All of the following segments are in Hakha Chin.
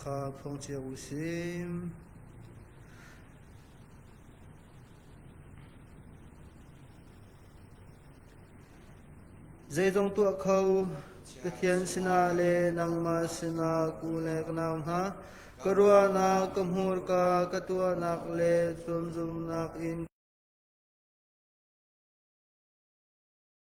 kha phung cio u sih. Zeizong tuah kho Pathian sinah le nangmah sinah ku le ka nau hna ka ruahnak ka hmurka ka tuahnak le zumzumnak in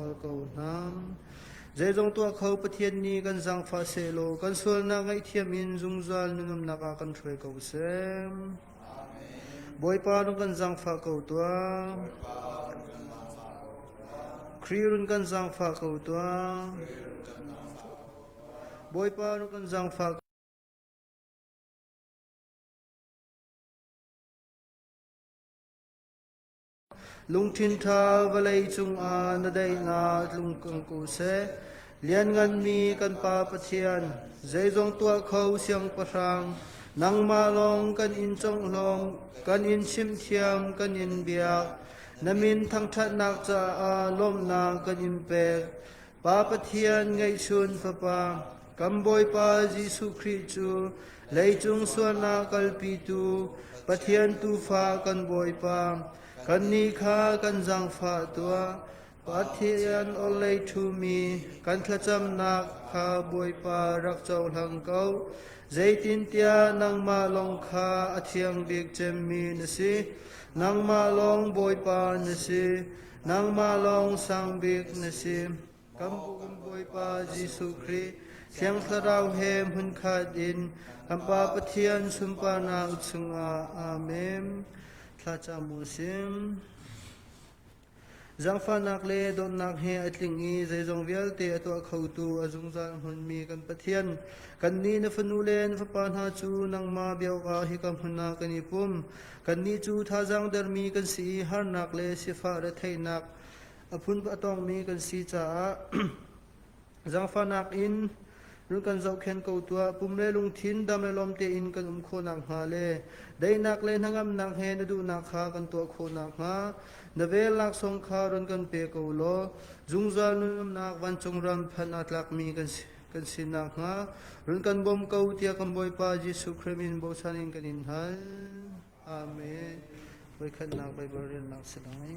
Bal ko hnam. Zeizong tuah kho Pathian nih kan zangfah sehlaw kan sualnak ngaihthiam in zungzal na ngamnak ah kan hruai ko sem. Bawipa rung kan zangfah ko tuah. Kri run kan zangfah ko tuah. Bawipa rung kan zangfah Lungthin ṭha vawlei cungah na daihnak tlung ko seh. Liannganmi kan Pa Pathian, zeizong tuah kho Siangpahrang, nangmah lawng kan in conglawm, kan in chimthiam, kan in biak. Na min thangṭhatnak caah lawmhnak kan in pek. Pa Pathian ngeihchun Fapa, kan Bawipa Jesuh Khrih cu leicung sualnak kalpitu Pathian Tuufa kan Bawipa, kannih kha kan zaangfah tuah. Pathian orhlei ṭhumi kan thlacamnak kha Bawipa rak cohlang ko. Zeitintiah nangmah lawng kha a thiang bik cemmi na si. Nangmah lawng Bawipa na si. Nangmah lawng Sang Bik na si. Kan bu kan Bawipa Jesuh Khrih, Thiang Thlarau he hmunkhat in kan Pa Pathian sunparnak chungah Amen. Thla cam u sim. Zangfahnak le dawtnak he a tling i zeizong vialte a tuah khotu a zungzal hmunmi kan Pathian, kan nih na fanu le na fapa hna cu nangmah bia awkah hika hmun ah kan i pum. Kannih cu thazaang dermi kan si i harnak le sifah retheihnak a phun a tawngmi kan si caah zangfahnak in run kan zohkhenh ko tuah. Pum le lungthin dam le lawm tein kan um khawh nakhnga le daihnak le hnangamnak he na duhnak kha kan tuah khawh nakhnga na vel laksawng kha ron kan pe ko law zungzal nun umnak vancung ram phan aa tlakmi kan si. kan sin nakhnga run kan bawm ko tiah kan Bawipa Jesuh Khrist in bosan in kan in hal. Amen. Voikhatnak Baibal riannak si lai.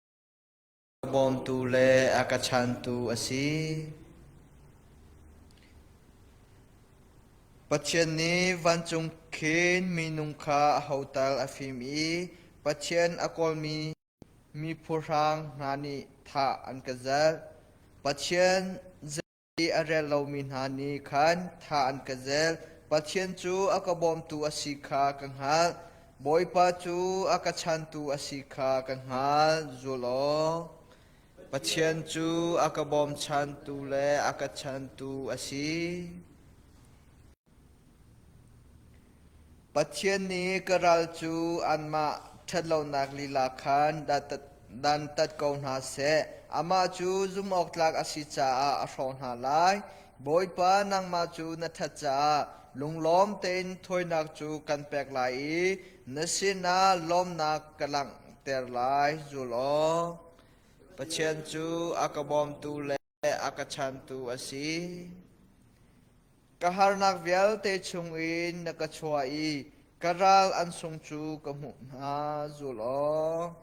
A bawmtu le a ka chantu a si. Pathian nih vancung khin minung kha a hotal a fim i Pathian a kawlmi mi phuhrang hna nih thah an ka zalh. Pathian Mi a rel lomi hna nih khan thla an ka zel, Pathian cu a ka bawmtu a si kha ka hngalh. Bawipa cu a ka chantu a si kha ka hngalh. Zul aw! Pathian cu a ka bawmchantu le a ka chantu a si. Pathian nih ka ral cu anmah ṭhatlonak lila khan dantat ko hna seh; amah cu zumhawktlak a si caah a hrawh hna lai. Bawipa nangmah cu na ṭhat caah lunglawm tein thawinak cu kan pek lai i na sinah lawmnak ka langhter lai. Zul aw! Pathian cu a ka bawmtu le le a ka chantu a si. Ka harnak vialte chung in na ka chuah i ka ral an sung cu ka hmuh hna zul aw.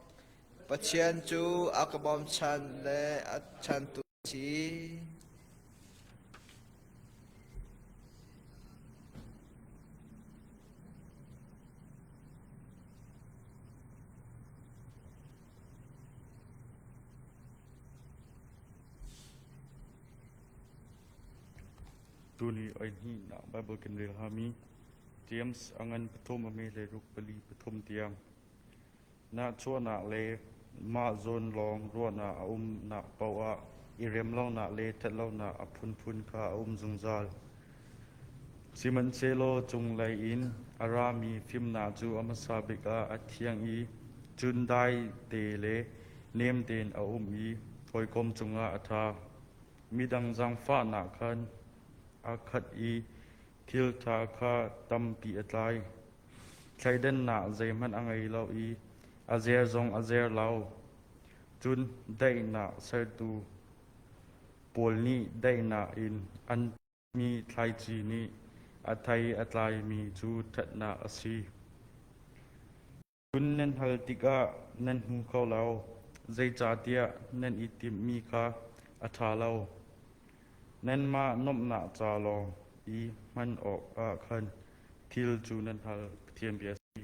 Pathian cu a ka bawmchan le a chantu a si. Tuni oihnihnak Baibal kan rel hngami James a ngan pathum a me le ruk pali pathum tiang. Nahchuahnak le mah zawn lawng ruahnak a umnak paoh ah i rem lonak le ṭhat lonak a phunphun kha a um zungzal. Sihmanhsehlaw cunglei in a rami fimnak cu a hmasa bik ah a thiang i cun daite le nem tein a um i hawikom cungah a ṭha. Midang zaangfahnak khan aa khat i thilṭha kha tampi a tlai. Thleidannak zeihmanh a ngei lo i a zer zong a zer lo. Cun daihnak sertu, Pawl nih daihnak in an timi thlaici nih a thei a tlaimi cu ṭhatnak a si. Cun nan hal tikah nan hmu kho lo, zeicahtiah nan i timhmi kha a ṭha lo. Nanmah nuamhnak ca lawng i hman awkah khan thil cu nan hal Pathian bia a si.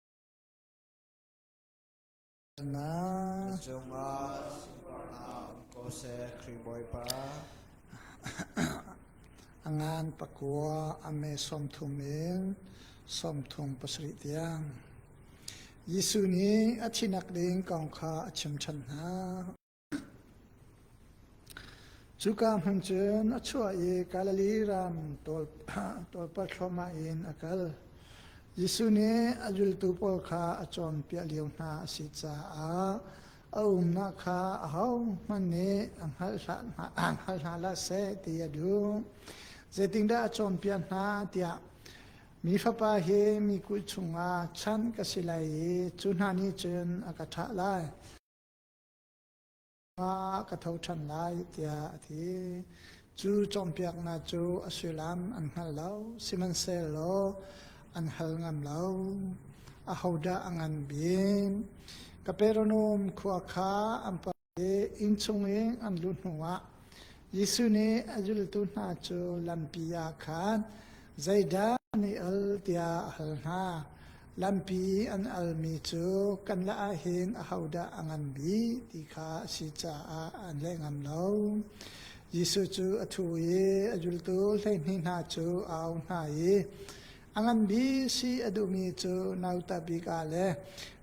Na cungah um ko seh Khrih Bawipa. A ngan pakua a me sawmthum in sawmthum pasarih tiang. Jesuh nih a thinak ding kong kha a chim ṭhan hna. Cuka hmun cun a chuah i Galilee ram tawlpar thluahmah in a kal. Jesuh nih a zultu pawl kha a cawnpiak lio hna a si caah a umnak kha ahohmanh nih a hngalh hna la seh ti a duh. Zeitindah a cawnpiak hna tiah Mi Fapa hi mi kut chungah chan ka si lai i cu hna nih cun a ka thlah lai. Ah ka tho ṭhan lai tiah a ti. Cu cawnpiaknak cu a sullam an hngal lo, sihmanhsehlaw an hal ngam lo. Ahodah a ngan bik? Kapernaum khua kha an pa i inn chung i an lut hnuah Jesuh nih a zultu hna cu lampi ah khan zeidah na al tiah a hal hna. Lampi i an almi cu kan lah ahhin ahodah a ngan bik ti kha a si caah an leh ngam lo. Jesuh cu a thu i a zultu hleihnih hna cu a auh hna i a ngan bik si a duhmi cu nauta bik ah le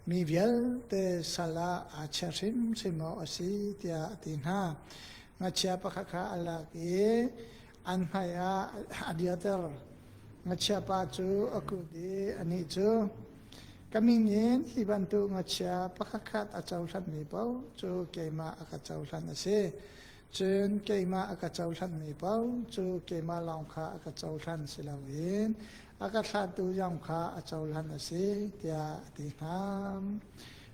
mi vialte sal ah aa chiah hrimhrim awk a si tiah a ti hna. ngachia pakhat kha a lak i an hmaiah a dirter ngachia pa cu a kut i anih cu ka min in hi bantuk ngachia pakhat khat a cohlanmi paoh cu keimah a ka cohlan a si cun keimah a ka cohlanmi paoh cu keimah lawng kha a ka cohlan si loin a ka thlahtu zong kha a cohlan a si tiah a ti hna.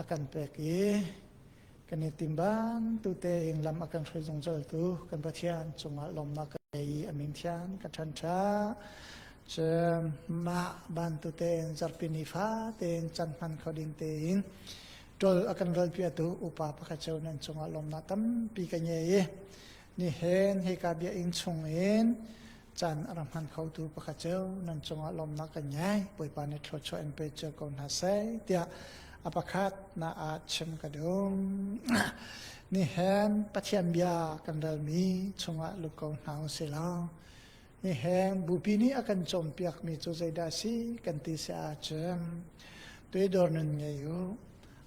a kan pek i kan i tim bantute in lam a kan hruai zungzaltu kan Pathian cungah lawmnak ka ngei i amin thian ka ṭhanṭa cu mah bantute in zarpini fate in can hman kho ding te in tol a kan ral piatu upa pakhat cheu nan cungah lawmnak tampi ka ngei i ni hen hi ka bia in chung in Caan a rak hman khotu pakhat cu nan cungah lawmnak kan ngei. Bawipa nih thluachuah in pe cio ko hna seh tiah a pakhat na ah chim ka dum. Nihen Pathian bia kan relmi chungah lut ko hna u si law. Nihen bupi nih a kan cawmpiakmi cu zeidah si kan ti si ahcun. Tuidor nun ngei u.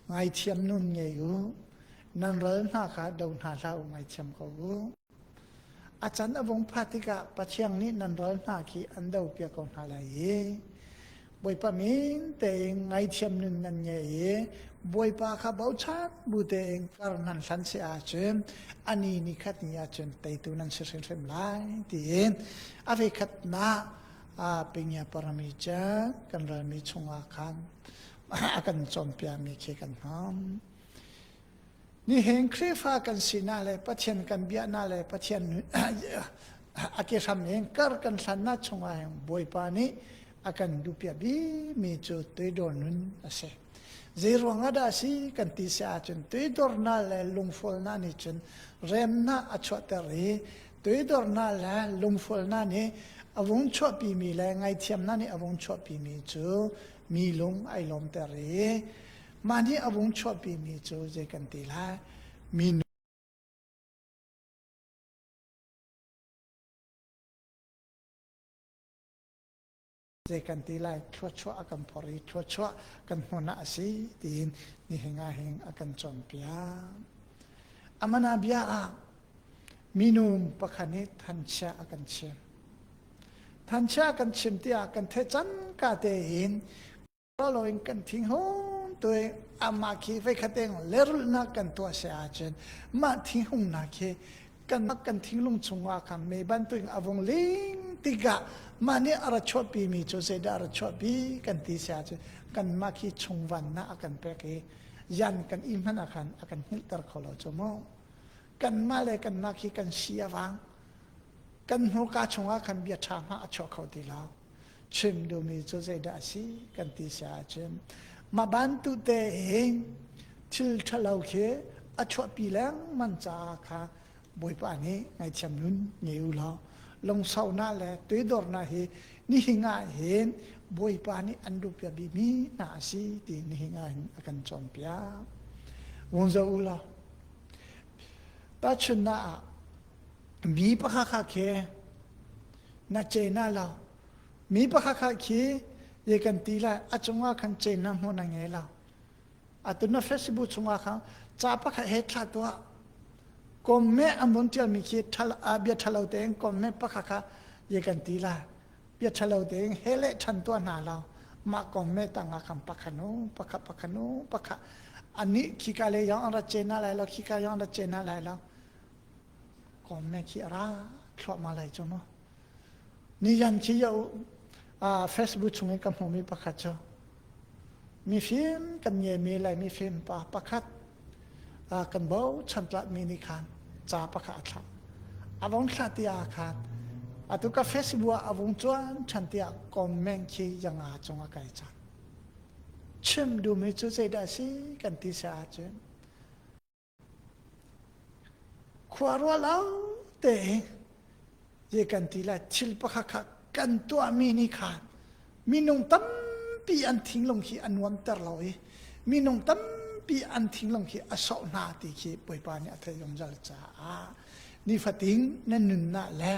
Ngaithiam nun ngei u. Nan ral hna kha do hna hlah u ngaithiam ko u. A can a vung phat tikah Pathiang nih nan ral hna khi an do piak ko hna lai i Bawipa min tein ngaithiam nun nan ngei i Bawipa kha bochan bu tein kar nan hlan si ahcun ani ni khat ni ahcun teitu nan si hrimhrim lai tiin a vekhatnak pingia parami ca kan ralmi chungah khan a kan cawnpiakmi khi kan hmang Nihin Khrihfa kan sinak le Pathian kan biaknak le Pathian a kehram in kar kan hlannak chungah Bawipa nih a kan duhpiah bimi cu toidor nun a si. Zeiruang ah dah a si kan ti si ahcun toidornak le lungfualnak nih cun remnak a chuahter i toidornak le lungfualnak nih a vung chuahpimi le ngaithiamnak nih a vung chuahpimi cu mi lung ai lawmter i Mah nih a vung chuahpimi cu zei kan ti lai? Minu zei kan ti lai thluachuah a kan phor i thluachuah kan hmun ah a si tiin nihin ah hin a kan cawnpiak amana bia ah minu pakhat nih thanchia a kan chim thanchia a kan chim tiah kan theih cangka tein Lo in kan thing hon tu i amah khi veikhat eng lerulhnak kan tuah se ahcun mah thinghungnak hi kan kan thinglung chungah khan me bantuin a vung ling tikah mah nih a ra chuahpi mi cu zeidah a ra chuahpi kan ti se ahcun kan mah khi chungvannak a kan pek i yan kan i hman a khan a kan hngilhter kho lo cu mu kan mah le kan mah khi kan si a vang kan hnuka chungah khan bia ṭha hma a chuah kho ti lo chim duhmi cu zeidah a si kan ti sia ahcun mah bantute in thil ṭhalo khi a chuahpi lengmang caah kha bawipa nih ngaihthiam nun ngei u law lungsaunak le toidornak hi nihin ah hin bawipa nih an rupia bimi hna a si ti nihin ah hin a kan cawnpiak vung zo u law tahchunnak ah mi pakha kha khi na cena lo mi pakhat khat khi ye kan ti lai a cungah khan cena hmu na nge lo atu na festival chungah khan ca pakhat he thla tuah kom me amun tial mi khi thal a bia thalo tein kom me pakhat kha ye kan ti lai bia thalo tein he le than tua hna lo ma kom me tanga kan pakhanu pakha pakhanu pakha ani khika le yong ra chena lai lo khika yong ra chena lai lo kom me khi ra thluah ma lai chu no ni yan chi yo a facebook chung in ka hmu mi pakhat chu mi film kan nge mi lai mi film pa pakhat a kan bo chan tla mi ni khan cha pakhat thla avon thla ti a khan atu ka facebook avung chuan chan tia comment khi yanga chunga kai chan chim du mi chu sei da si kan ti sa chun Khuaruah lawngte in zei kan ti lai. Thil pakhat kha kan tuahmi nih khan minung tampi an thinglung hi a nuamter lo i minung tampi an thinglung hi a sawh hna ti khi Bawipa nih a theih zungzal caah nifatin nan nunnak le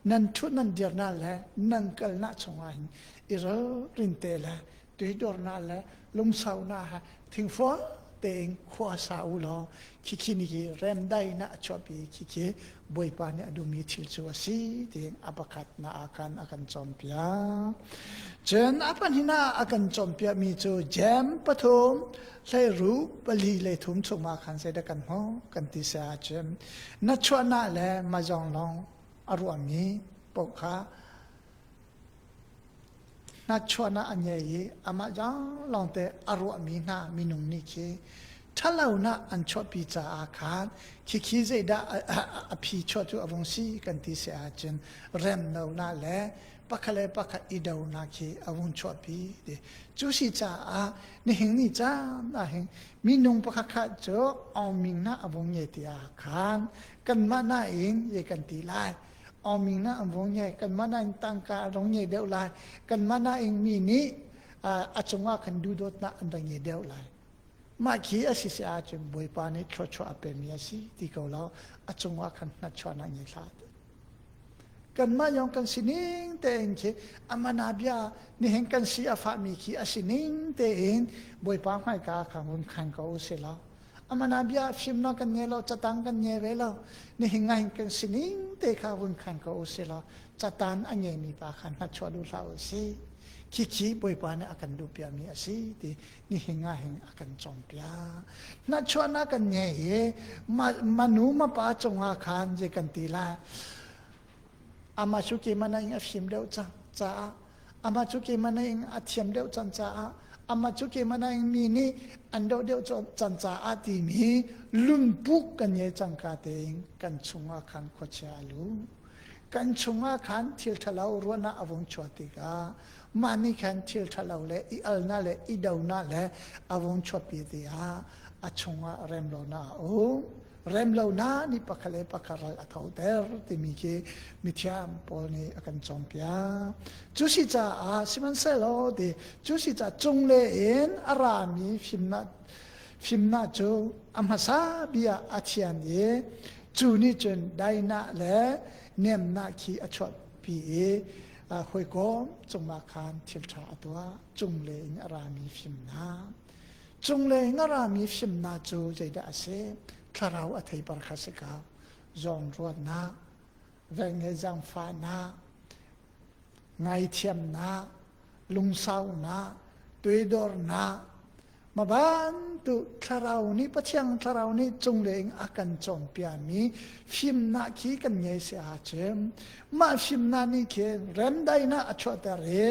nan ṭhut nan dirnak le nan kalnak chungah hin i ralrin te le Teidornak le lungsaunak ha thingfua tein khua sa u law khikhi ni hi remdai na a chuahpi khikhi bawipa nih a duhmi thil cu a si tiin a pakhat na a kan a kan cawnpiak cun a pahnih ah a kan cawnpiakmi cu jem pathum hleiru pali le thum chungah khan zeidah kan hmu kan ti se ahcun na chuahnak le mazong long a ruahmi paoh kha Hnatchuahnak a ngei i amah lawngte a ruahmi hna minung nih khi ṭhalonak an chuahpi caah khan khikhi zeidah a phi chuah cu a vung si kan ti seh ahcun remlonak le pakhat le pakhat i donak hi a vung chuahpi ti. Cu si caah nihin ni caan ahhin minung pakhat khat cu awming na a vung ngei tiah khan kanmah nain ye kan ti lai. Awming na vung nge kan mana in tangka a rong nge deuh lai kan mana ing mi nih a cungah kan dudot na an rong nge deuh lai mah khi a si se ahcun bawipa nih thluachuah a pemi a si ti ko lo a cungah kan hnatchuah na nge hlat kanmah yong kan sining tein khi amana bia nihin kan si a fahmi khi a sining tein bawipa hmaika kha hun khan ko u sila amana bia fimno kan nge lo catang kan nge ve lo nihin ngai kan sining te kha vun khan ko si lo catan a nge mi pa khan na chua du hla u si khi khi poi pa ne akan du pia mi asi ti ni hinga hing akan chom pia na chua na kan nge ye manu ma pa chunga khan je kan ti la ama suki mana ing afim deu cha cha Amah cu keimah naing a thiam deuh can caah amah cu keimah naing mi nih an doh deuh can caah timi lumpuk kan ye cangka tein kan chungah khan khuachia a lu kan chungah khan thil ṭhalo ruahnak a vung chuah tikah mah nih khan thil ṭhalo le i alnak le i donak le a vung chuahpi tiah a chungah remlonak a um rem lonak nih pakhat le pakhat ral a thoter timi khi mithiam pawl nih a kan cawmpiak cu si caah sihmanhsehlaw ti cu si caah cungle in a rami fimnak fimnak cu a hmasa bia a thian i cu nih cun dainak le nemnak khi a chuahpi i hawikom cungah khan thil ṭha a tuah cungle in a rami fimnak Cunglei ngarami fimnak cu zeidah a si? Thlarau a thei par kha si ka zawnruatnak, velnge zangfahnak, ngaithiamnak, lungsaunak, toidornak, mabantu thlarau nih Pathian thlarau nih cunglei in a kan cawnpiami fimnak khi kan ngei si ahcun mah fimnak nih khin remdaihnak a chuahter i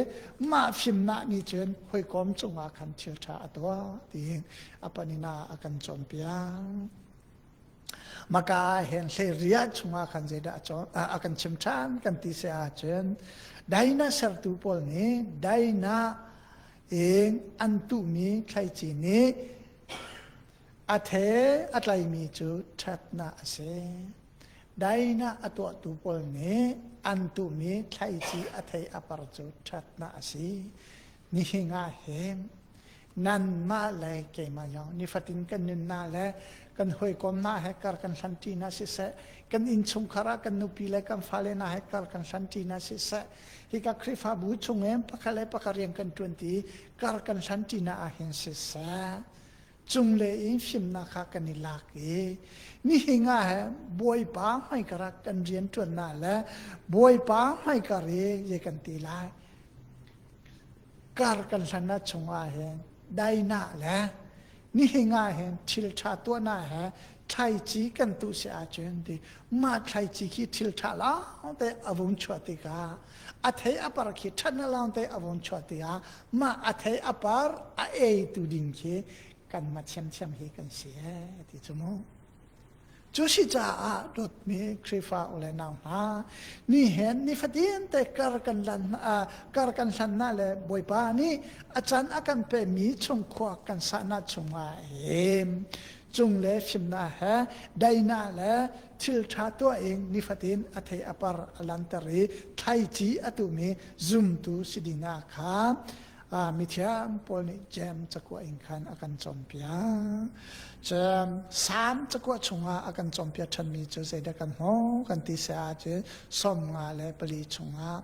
mah fimnak nih cun hawikom cungah khan thil ṭha a tuah ti a panina a kan cawnpiak maka ah hen hleiriah chungah khan zeidah a kan chim ṭhan kan ti se ahcun daina sertu pawl nih daina in an tuhmi thlaici nih A the a tlaimi cu ṭhatnak a si. Dainah a tuahtu pawl nih an tuhmi thlaici a thei a par cu ṭhatnak a si. Nihin ah hin nanmah le keimah zong nifatin kan nunnak le kan hawikomnak he kar kan hlanṭinak siseh, kan innchungkhar ah kan nupi le kan fale hna he kar kan hlanṭinak siseh, hika Khrihfabu chung in pakhat le pakhat rian kan ṭuanti i kar kan hlanṭinak ah hin siseh, Cungle in fimnak ha kan i lak i nihin ah he Bawipa hmaikar ah kan rian ṭuannak le Bawipa hmaikar i ye kan ti lai. Kar kan hlanna chungah hin daina le nihin ah hin thil ṭha tuahnak he thlaici kan tu si ahcun ti mah thlaici khi thil ṭha lawngte a vung chuah tikah a thei a par khi ṭhat na lawngte a vung chuah tikah mah a thei a par a eitu ding khi kan ma thiamthiam hi kan si e ti cu mu cu si caah dawtmi Krifa ule nau hna ni hen ni fatin te kar kan lan kar kan hlan na le bawipa nih a can a kan pe mi chung khua kan sa na chungah em cung le fimna he daina le thilṭha tuah i nifatin a thei a par a lanter i thlaici a tumi zumtu si dina kha mithiam pawl nih cem cakua in khan a kan compiak cem sam cakua chungah a kan compiak ṭhanmi cu zeidah kan hmu kan ti sa cu som nga le pali chungah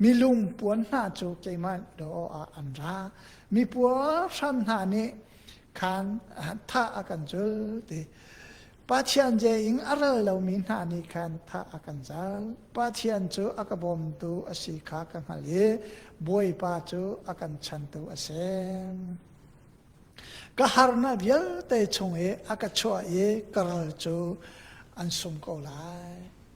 mi lungpuan hna cu keimah law ah an ra mi puar hram hna nih khan thah a kan zul ti Pathian je in a ral lomi hna nih khan thah a kan zal. Pathian cu a ka bawmtu a si kha ka hngalh i Bawipa cu a kan chantu a si. Ka harnak vialte chung i a ka chuah i ka ral cu an sung ko lai.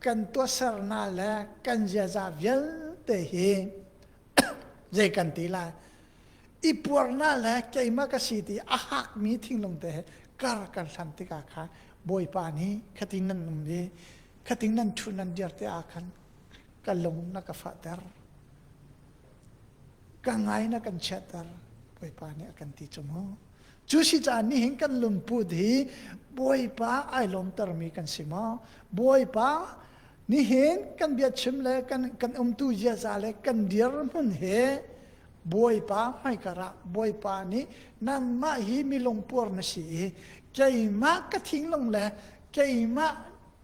kan tuahsernak le kan ziaza vialte hi zei kan ti lai i puarnak le keimah ka si ti a hakmi thinglung te he kar kan hlam tikah kha bawipa nih khating nan um i khating nan thu nan dir te ah khan ka lung na ka fahter ka ngai na kan chiatter bawipa nih a kan ti cu mu Cu si caan nih hin kan lungput hi Bawipa ai lawmtermi kan si maw? Bawipa nihin kan biachim le kan, kan umtu ziaza le kan dirhmun he Bawipa hmaikar ah Bawipa nih nanmah hi milung puar na si i keimah ka thinglung le keimah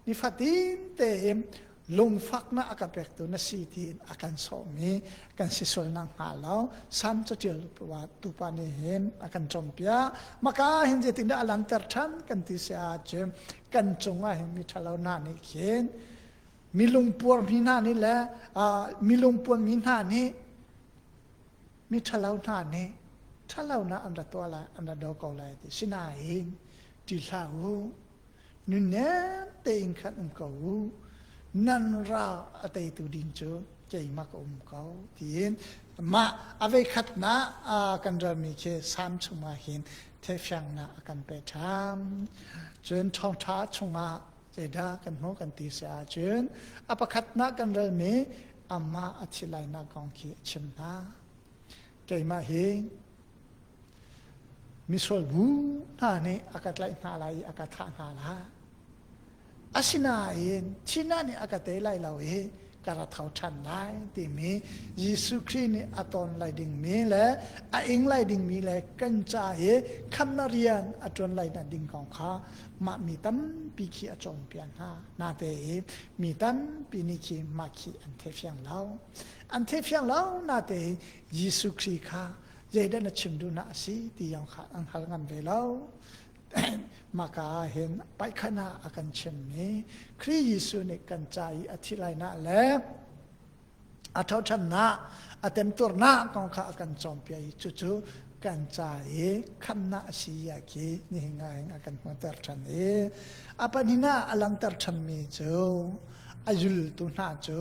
nifatin tein lungfaknak a ka pektu na si tiin a kan sawhmi kan si sualnak hnga lo sam catial tupa nih hin a kan cawmpiak maka hin zeitindah a langhter ṭhan kan ti si ahcun kan cungah hin mi ṭhalo hna nih khin milungpuar mi hna nih le milungpuar mi hna nih mi ṭhalo hna nih ṭhalonak an ra tuah lai an ra do ko lai ti sinain ti hlah u Nunnem tein khan um ko u. Nan ra a teitu din cu keimah ka um ko tiin mah aveikhatnak kan ralmi khi sam chungah hin thefiangnak a kan pe ṭham cun thawngṭha chungah zeidah kan hmuh kan ti si ahcun a pakhatnak kan ralmi amah a thi lainak kong khi a chim hna keimah hi Misual bu hna nih a ka tlaih hna lai i a ka thah hna lai. Asinain thihna nih a ka tei lai lo i ka ra tho ṭhan lai timi Jesuh Khrih nih a ton lai dingmi le a ing lai dingmi le kan ca i khamnak rian a ṭuan lai na ding kong kha mah mi tampi khi a cawnpiak hna. Nate i mi tampi nih khi mah khi an thefiang lo. An thefiang lo nate i Jesuh Khrih kha zeidah na chim duhnak a si ti yang kha an hal ngam ve lo. Maka ah hin paikhan ah a kan chimmi Khrih Jesuh nih kan ca i a thi lainak le a thoṭhannak a temturnak kong kha a kan cawmpiak i cucu kan ca i khamnak a si ya khi nihin ah hin a kan hmuhter ṭhan i a pahnih ah a langhter ṭhanmi cu a zultu hna cu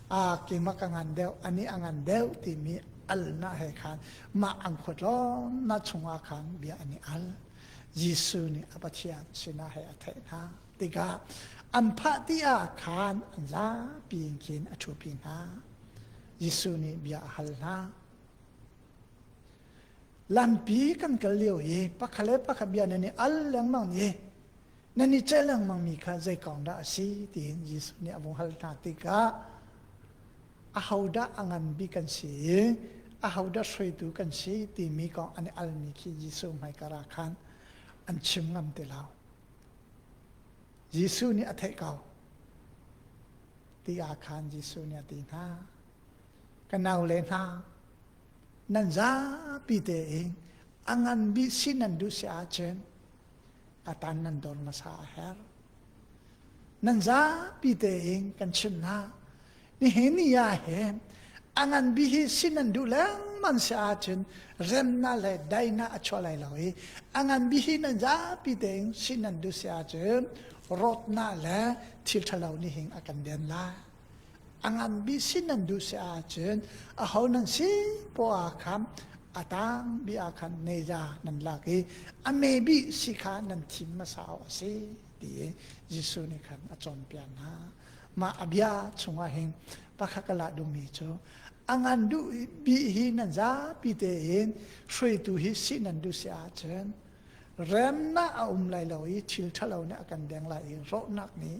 aa kimak a ngan deuh a nih a ngan deuh timi alnak he khan mah an khuat na chungah khan bia an i al Jesuh nih a Pathian sinah he a theih hna tikah an phah ti ah khan an zapi in khin a ṭhupi hna Jesuh nih bia a hal hna lampi kan kal lio i pakhat le pakhat bia nan i al lengmang i nan i celh lengmangmi kha zei kong dah a si tiin Jesuh nih a vung hal hna tikah ahodah a ngan bik kan si i ahodah hruaitu kan si timi kong an i almi khi Jesuh hmaikar ah khan an chim ngam ti lo. Jesuh nih a theih ko ti ah khan Jesuh nih a ti hna. Ka naule hna, nan zapi te in a ngan bi si nan duh si ahcun atan nan don hmasa a herh nan zapi tein kan chim hna nihin ni ah hin a ngan bi hi sin nan duh lengman si ahcun remna le dainak a chuah lai lo i a ngan bi hi nan zapi tein sin nan duh si ahcun rawtnak le thil ṭhalo nih hin a kan den lai A nganmi si nan duh si ahcun aho nan si poah ah khan a tangmi ah khan neiza nan lak i a maybe si kha nan thim hmasa awk a si ti i Jesuh nih khan a cawnpiak hna. Mah a bia chungah hin pakhat ka lah duhmi cu a ngan duh bi hi nan zapi tein hruaitu hi si nan duh si ahcun remnak a um lai lo i thil ṭhalo nih a kan deng lai i rawhnak nih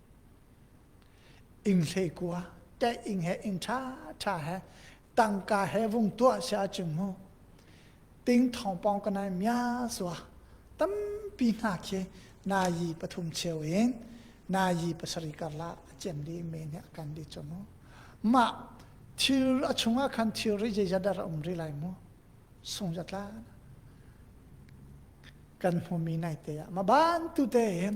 Ing hlei kua te ing he ing tha tha he tangka he vung tua se a ching mu ting thong pong ka nai mya suwa tampi hna khi na yi pathum cheu in na yi pasari kar la chem li me ne kan di chonu ma thil a chunga khan thil ri je jadar um ri lai mu sung jatla kan hmu mi nai te ya ma ban tu te in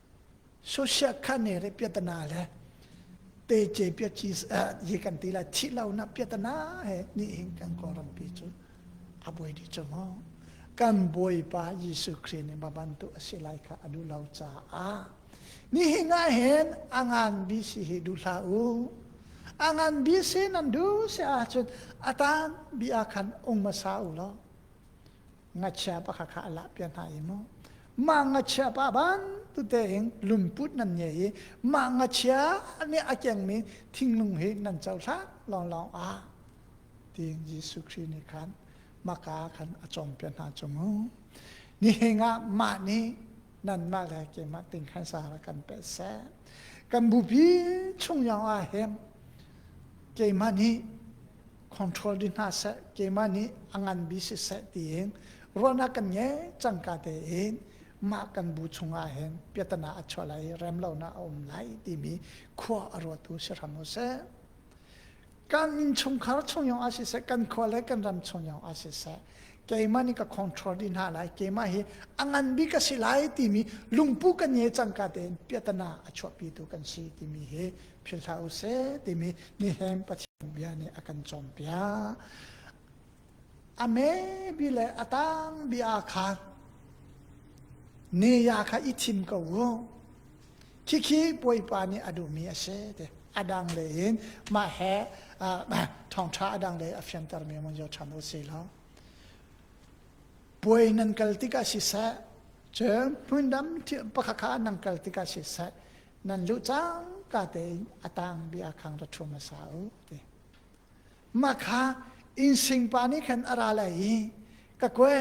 Social khane re piatana le te ce pia chis ye kan ti la thi lo na piatana he ni hin kan ko rampi cu a boi di chu mo kan boi pa Jesu Christ ni baban tu asilai kha adu lo cha a ni hi nga hen angan bi si hi du hla u angan bi si nan du se a chun atan bi a khan ung ma sa u lo ngachia pa kha kha a lahpiah hna i mu mah ngachia pa bantute in lungput nan nge i mah ngachia nih a kengmi thinglung hi nan cohlan lawnglawng ah tiin Jesuh Khrih nih khan maka khan a cawmpiah hna cung u nihin ah mah nih nanmah le keimah ting khan sara kan peh seh kan bupi chung yong ah hin keimah nih control di hna seh keimah nih a nganbi siseh tiin ruahnak kan ngei cangka tein mah kan bu chungah hin piatana a chuah lai i rem lonak a um lai timi khua a ruatu si hram u sih kan inn chungkhar chung yong ah siseh kan khua le kan ram chung yong ah siseh keimah nih ka control di hna lai keimah hi a ngan bi ka si lai timi lungpu kan nge cangka tein piatana a chuahpi tu kan si timi hi philh hlah u seh timi nihem pathian bia nih a kan cawnpiak a maybe le a tang bia khan ne ya kha i thim ko u khikhi puaipa nih a duhmi a si te a dang le in mah he thawngtha a dang le a fianter mi mon yo than u si lo puai nan kal tikah si seh cun hmun dam pakha kha nan kal tikah si seh nan luh cangka tein a tang bia khang ra ṭhum a sa u ti mah kha insing pa nih khan a ra lai i ka koe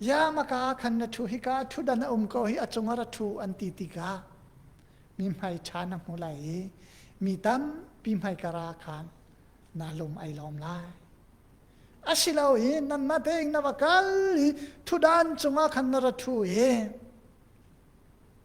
ya maka khan na thu hi ka thu dan a um ko hi a cungah ra thu an ti tikah mi hmai ṭha na hmu lai i mi tampi hmai kara khan na lum ai lawm lai asilo i nan ma tein na va kal i thudan cungah khan na ra thu i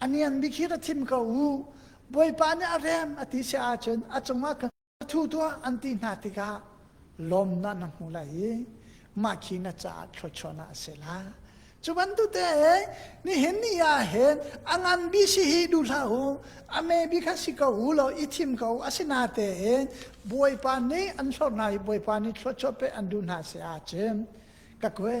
A nian bik hi ra thim ko u. Bawipa nih a rem a ti si ahcun a cungah ka thu tuah an ti hna tikah lawmnak na hmu lai i mah khi na caah thluachuahnak a si la. Cu bantukte nihin ni ah hin a ngan bi si hi duh hlah u. A me bi kha si ko u law i thim ko u. Asinatein Bawipa nih an hlor hna i Bawipa nih thluachuah pe an duh hna si ahcun ka kue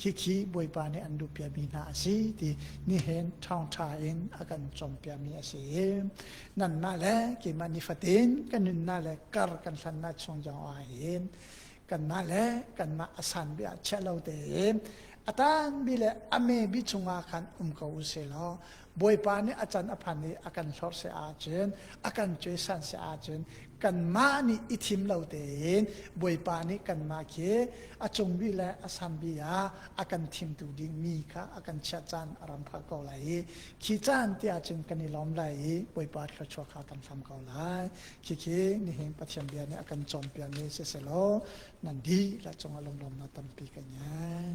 Khikhi Bawipa nih an luh piami hna a si ti nihin ṭhangṭha in a kan cawmpiami a si. Nanmah le keimah nifatin kan nunnak le kar kan hlannak chung zongah hin kanmah le kanmah a sanbi ah chiah lo tein a tanbi le a mebi chungah khan um ko u sih law Bawipa nih a can a phan i a kan hlor se ahcun a kan cuaisan se ahcun kanmah nih i thim lo tein Bawipa nih kanmah khi a cungbi le a sambi ah a kan thimtu dingmi kha a kan chiah caan a ram phal ko lai i khi caan ti ahcun kan i lawm lai i Bawipa thluachuah kha kan hlam ko lai khi khi nihin Pathian bia nih a kan cawmpiakmi si selaw nan dih la cungah lunglawmnak tampi kan ngei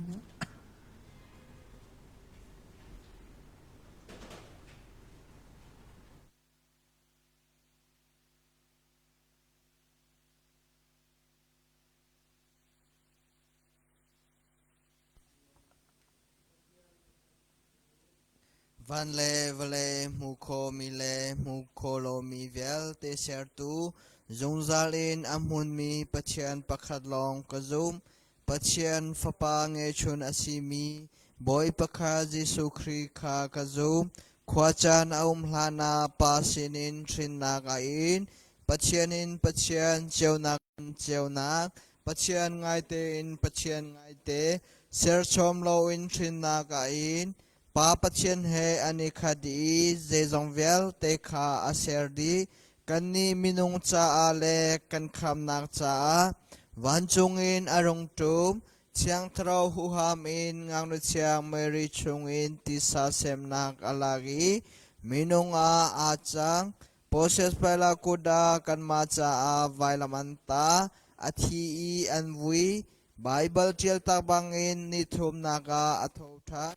Van le vale hmu khawmi le hmu kho lomi vialte Sertu, zungzal in a hmunmi Pathian pakhat lawng ka zumh. Pathian Fapa ngeihchun a simi Bawipa kha Jesuh Khrih kha ka zumh. Khuacaan a um hlanah Pa sinin hrinnak a in. Pathian in Pathian, ceunak in ceunak, Pathian ngaite in Pathian ngaite, serchawm loin hrinnak a in. Pa Pathian he an i khat i zeizong vialte kha a ser dih. Kannih minung caah le kan khamnak caah vancung in a rung ṭum, Thiangthlarau huham in ngaknuatchiang Mary chungin tisa semnak a lak i minung ah aa cang. Process Palakoda kanmah caah vailam an ta, a thi i an vui. Baibal ṭialtak bangin nithumnak ah a thoṭhan.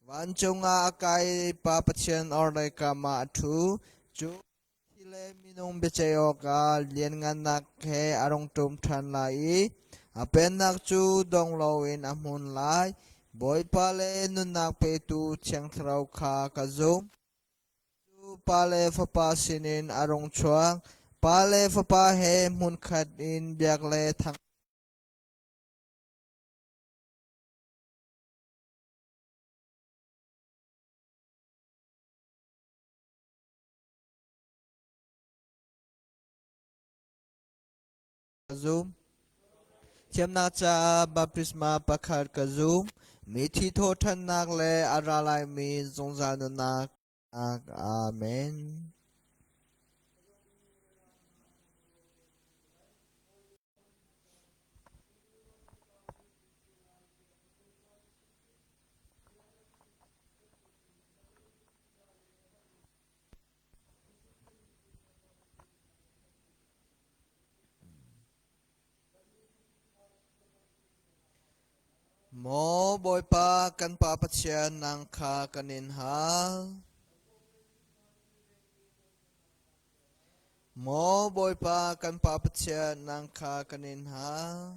Vancung ah a kai pa Pathian orhlei kam ah a ṭhu. Cu thi le minung biaceih awkah lianngannak he a rung ṭum ṭhan lai i a pennak cu dong loin a hmun lai. Bawipa le nunnak petu Thiang Thlarau kha ka zumh. Cu pa le fapa sinin a rung chuak. Pa le fapa he hmunkhat in biak le thang an ngei. ka zum. Thiamnak caah baptisma pakhat ka zum. Mithi thawhthannak le a ra laimi zungzal nunnak. Amen. Maw Bawipa kan Pa Pathian nang kha kan in hal. Maw Bawipa kan Pa Pathian nang kha kan in hal.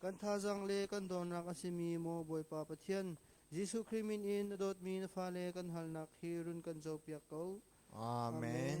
Kan thazaang le kan dawnnak a simi maw Bawipa Pathian, Jesuh Khrih min in a dawtmi na fale kan halnak hi run kan zopiak ko. Amen.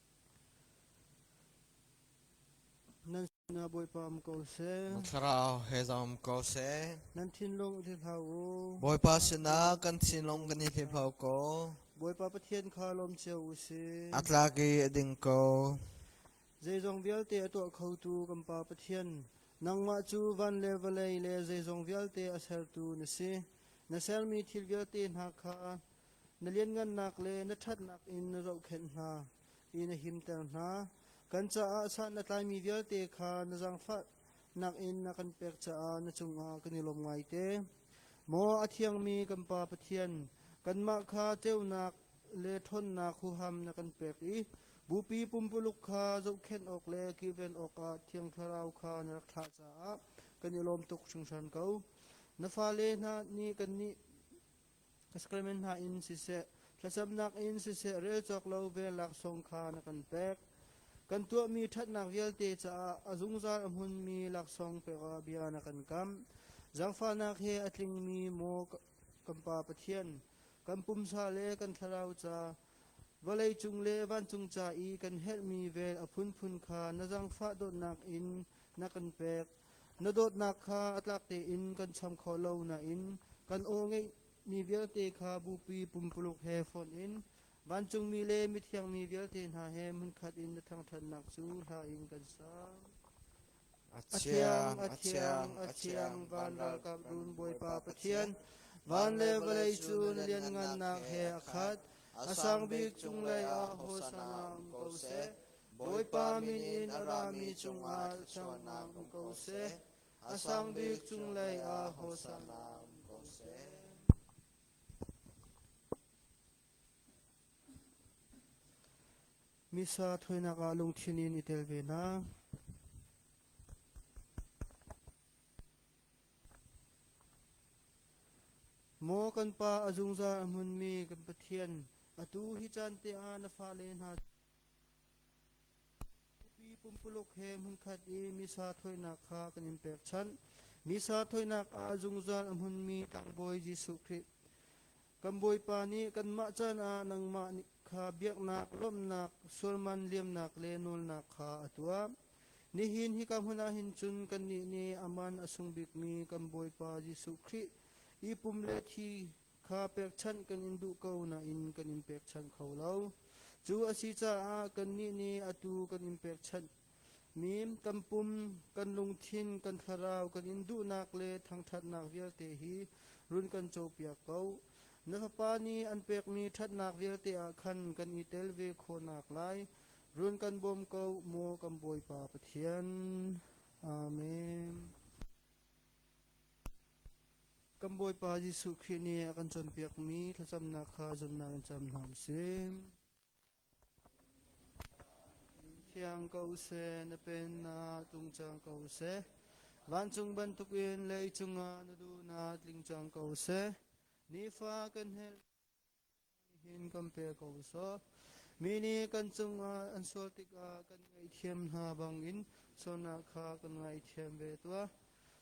Nan sinah Bawipa um ko seh. Na thlarau he zam um ko seh. Nan thinlung i hlau u. Bawipa sinah kan thinlung kan i hlau ko. Bawipa Pathian kha lawm cio u sih. A tlak i a ding ko. Zeizong vialte a tuah khotu kan Pa Pathian, nangmah cu van le vawlei le zeizong vialte a sertu na si. Na sermi thil vialte hna kha na lianngannak le na ṭhatnak in na zohkhenh hna i na himter hna. Kan caah san na tlaimi vialte kha na zangfah nakin na kan pek caah na cungah kan i lawm ngai te. Maw a thiangmi kan Pa Pathian, kanmah kha ceunak le ṭhawnnak huham na kan pek i bupi pumpuluk kha zohkhenh awk le kilven awkah Thiang Thlarau kha na rak thlah caah kan i lawm tuk hringhran ko. Na fale hna nih kannih ka sakalmen hna in siseh thlacamnak in siseh rel cawk lo vel laksawng kha na kan pek kan tuahmi ṭhatnak vialte caah a zungzal a hmunmi laksawng pek ah bia na kan kam zangfahnak he a tlingmi maw kan pa Pathian kan pumsa le kan thlarau ca Vawleicung le vancung ca i kan herhmi vel a phunphun kha na zaangfah dawtnak in na kan pek. Na dawtnak kha a tlak tein kan cham khawh lo nain kan aw ngeihmi vialte kha bupi pumpuluk he fonh in vancungmi le mithiangmi vialte hna he hmunkhat in na thangṭhatnak cu hla in kan sang. A thiang, a thiang, a thiang, van ralkap run Bawipa Pathian, van le vawlei cu na lianngannak he a khat, a sang bik cung lei ah hosana um ko seh. Bawipa min in a rami cungah thluachuahnak um ko seh. A sang bik cung lei ah hosana um ko seh. Missa thawinak ah lungthin in i tel ve hna. Maw kan pa a zungzal a hmunmi kan Pathian, atu hi caan te ah na fale hna Nupi pumpuluk he hmunkhat i misa thawinak kha kan in pekchanh. Misa thawinak ah zungzal a hmunmi tlangbawi Jesuh Khrih. Kan Bawipa nih kanmah caan ah nangmah kha biaknak, lawmhnak, sualman liamnak le nawlnak kha a tuah. Nihin hi ka hmun ah hin cun kannih nih aman a sung bikmi kan Bawipa Jesuh Khrih i pum le thi kha pekchanh kan in duh ko nain kan in pekchanh kho lo. Cu a si caah kannih nih atu kan in pekchanh mi tampum, kan lungthin, kan thlarau, kan in duhnak le thangṭhatnak vialte hi run kan copiak ko. Na fapa nih an pekmi ṭhatnak vialte ah khan kan i tel ve khawhnak lai run kan bawm ko maw kan Bawipa Pathian. Amen. Kan Bawipa Jesuh Khrih nih a kan cawnpiakmi thlacamnak kha zumnak in cam hna u sih. Thiang ko seh, na pennak tungcang ko seh. Vancung bantukin lei cungah na duhnak tling cang ko seh. Nifa kan hel Mi nih kan cungah an sual tikah kan ngaihthiam hna bangin sualnak kha kan ngaihthiam ve tuah.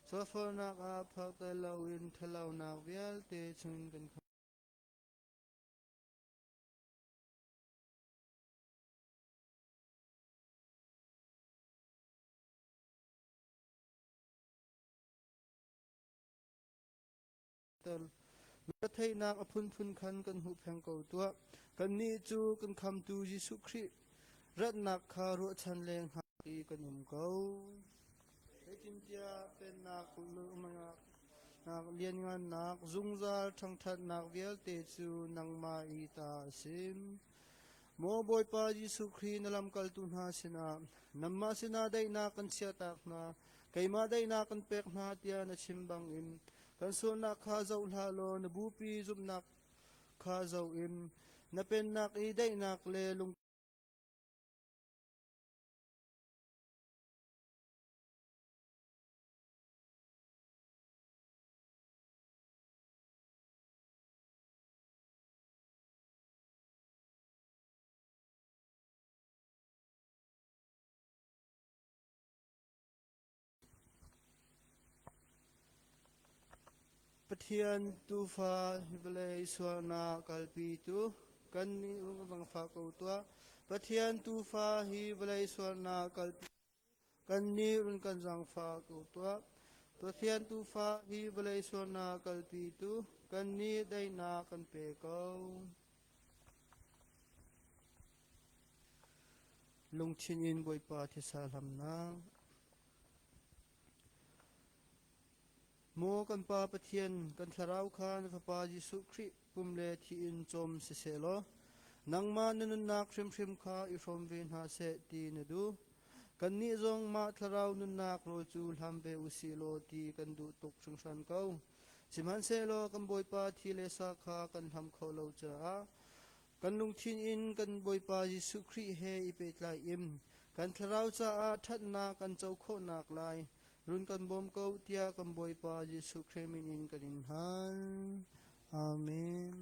Sualsualnak ah phak tel loin ṭhalohnak vialte chungin kan khamh. Retheihnak a phunphun khan kan hmuh pheng ko tuah. Kannih cu kan khamtu Jesuh Khrih ratnak kha ruahchan le hngak i kan um ko. Zeitintiah pennak kulmangak lianngannak zungzal ṭhangṭhatnak vialte cu nangmah i ta a si. Maw Bawipa Jesuh Khrih na lamkaltu hna sinah nanmah sinah daihnak kan chiahtak hna, keimah daihnak kan pek hna tiah na chim bangin Kan sualnak kha zoh hlah law na bupi zumhnak kha zoh in na pennak i daihnak le lung Pathian Tuufa vawlei sualnak kalpitu kan i um vang fa ko tuah. Pathian Tuufa hi vawlei sualnak kalpitu kan ni run kan zangfa ko tuah. Pathian Tuufa hi vawlei sualnak kalpitu kan ni daihnak kan pe ko. Lungthin in Bawipa thisa hlamnak. Maw kan Pa Pathian, kan thlarau kha na Fapa Jesuh Khrih pum le thi in cawm siseh law, nangmah na nunnak hrimhrim kha i hrawm ve hna seh ti na duh. Kannih zong mah thlarau nunnak rawl cu hlam ve u sih law ti kan duh tuk hringhran ko. Sihmanhsehlaw kan Bawipa thi le sa kha kan hlam kho lo caah kan lungthin in kan Bawipa Jesuh Khrih he i pehtlai in kan thlarau caah ṭhatnak kan co khawhnak lai run kan bawm ko tiah kan Bawipa Jesuh Khrih min in kan in hal. Amen.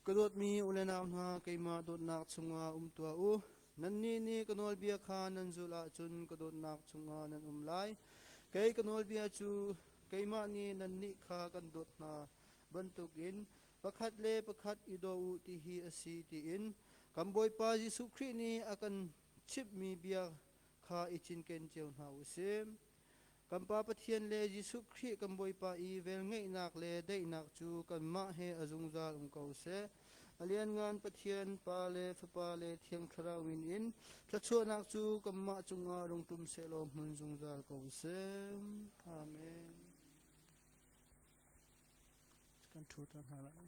Ka dawtmi unenau hna keimah dawtnak chungah um tuah u. Nannih nih ka nawlbia kha nan zulh ahcun ka dawtnak chungah nan um lai. Kei ka nawlbia cu keimah nih nannih kha kan dawt hna bantukin pakhat le pakhat i daw u ti hi a si tiin kan Bawipa Jesuh Khrih nih a kan chimhmi bia kha i cinken cio hna u sih. Kan Pa Pathian le Jesuh Khrih kan Bawipa i velngeihnak le daihnak cu kanmah he a zungzal um ko seh. A lianngan Pathian, Pa le Fapa le Thiang Thlarau min in thluachuahnak cu kanmah cungah rung ṭum seh law hmun zungzal ko seh. Amen. Kan ṭhut hna lai.